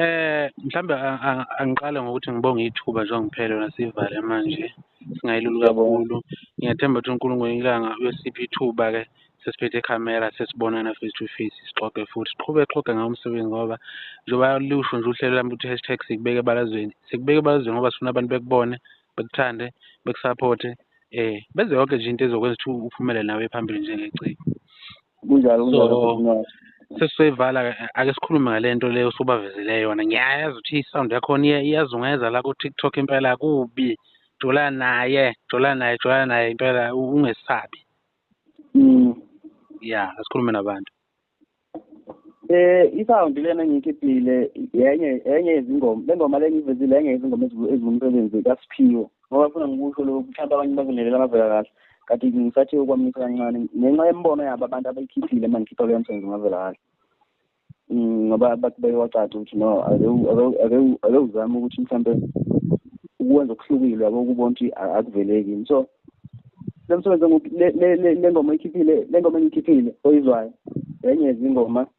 Eh mhlambe angiqale ngokuthi ngibonge ithuba njengoba ngiphele lona sivale manje singayilulu kakhulu. Ngiyathemba ukuthi uNkulunkulu ilanga uyosipha ithuba ke sesiphethe ikhamera sesibonana face to face sixoxe futhi siqhube xoxe ngawo umsebenzi ngoba njengoba lusho nje uhlelo lami ukuthi hashtag sikubeke ebalazweni sikubeke ebalazweni ngoba sifuna abantu bekubone bekuthande bekusapothe eh benze yonke nje into ezokwenza ukuthi uphumele nawe phambili njengeciko. kunjalo kunjalo sesizoyivala ake sikhulume ngale nto leyo usubavezele yona ngiyayazi ukuthi i-sound yakhona iyazungeza la ku-tiktok impela kubi jola naye jola naye jola naye impela ungesabi mm. ya asikhulume nabantu eh i-sound lena engiyikhiphile yenye yenye yezingoma le ngoma le ngiyivezile yenye yezingoma ezingumsebenzi kasiphiwo ngoba funa ngikusho lokhu mhlawumbe abanye bakulelela bavela kahle kati ngisathi ukwamisa kancane ngenxa yemibono yabo abantu abayikhiphile uma ngikhipha leyo msebenzi ngavela kahle mm, ngoba bathi beyowacaca ukuthi no ake uzame ukuthi mhlawumbe ukwenza okuhlukile yabo ukubona ukuthi akuveleki so le msebenzi le ngoma oyikhiphile le ngoma engiyikhiphile oyizwayo enye yezingoma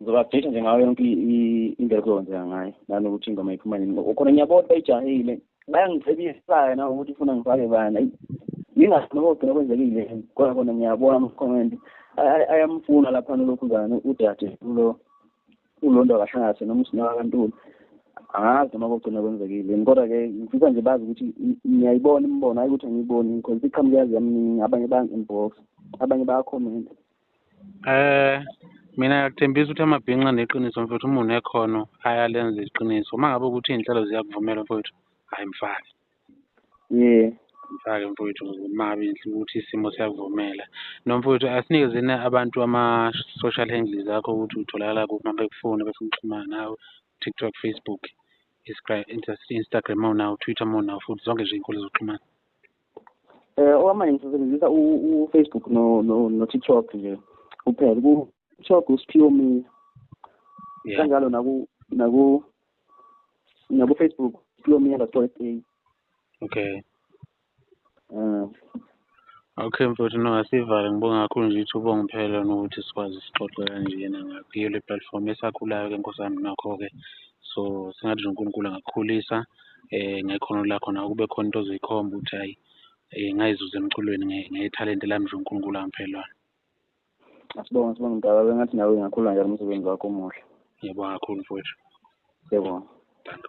ngizobabhesha nje ngayo yonke indlela kuzokwenzeka ngayo nanokuthi ingoma iphuma nini khona ngiyabona bayijahile bayangicebisaya na ukuthi ufuna ngifake bana yingakho noma kugcina kwenzekile kodwa kona ngiyabona amakhomenti ayamfuna lapha nolokhuzane udade ulo ulonto akahlangase noma usinaka kantulu angazi noma kugcina kwenzekile kodwa-ke ngifisa nje bazi ukuthi ngiyayibona imibono ayi ukuthi angiyiboni because iqhamuke yazi yaminingi abanye bayangi-inbox abanye bayakhomenta Eh mina ngiyakuthembisa ukuthi amabhinqa neqiniso mfowethu uma unekhono ayalenza iqiniso uma ngabe ukuthi iy'nhlelo ziyakuvumela mfowethu hhayi mfake yeah mfake mfowethu mabi ukuthi isimo siyakuvumela nomfowethu asinikezeni abantu ama-social handles akho ukuthi utholakala kuphi mabekufuna befuna ukuxhumana nawe tiktok facebook instagram mawunawo twitter mawunawo futhi zonke nje iy'nkundla zokuxhumana Eh okwamanje ngisebenzisa uFacebook no no no TikTok nje kuphela ku TikTok uSphiwo Mina kanjalo naku naku naku Facebook Sphiwo Mina dot SA okay um Okay mfowethu no asivale ngibonga kakhulu nje ithuba ongiphela nokuthi sikwazi sixoxe kanjena ngakho le platform esakhulayo ke nkosami nakho-ke so singathi nje unkulunkulu angakukhulisa um ngekhono lakho nawe kube khona into ozoyikhomba ukuthi hhayi um ngayizuza emculweni ngethalente lami nje uNkulunkulu angiphe lona. Asibonge sibonge mdala bengathi nawe ingakhula njalo umsebenzi wakho omuhle. Ngiyabonga kakhulu mfowethu. Ngiyabonga. Danke.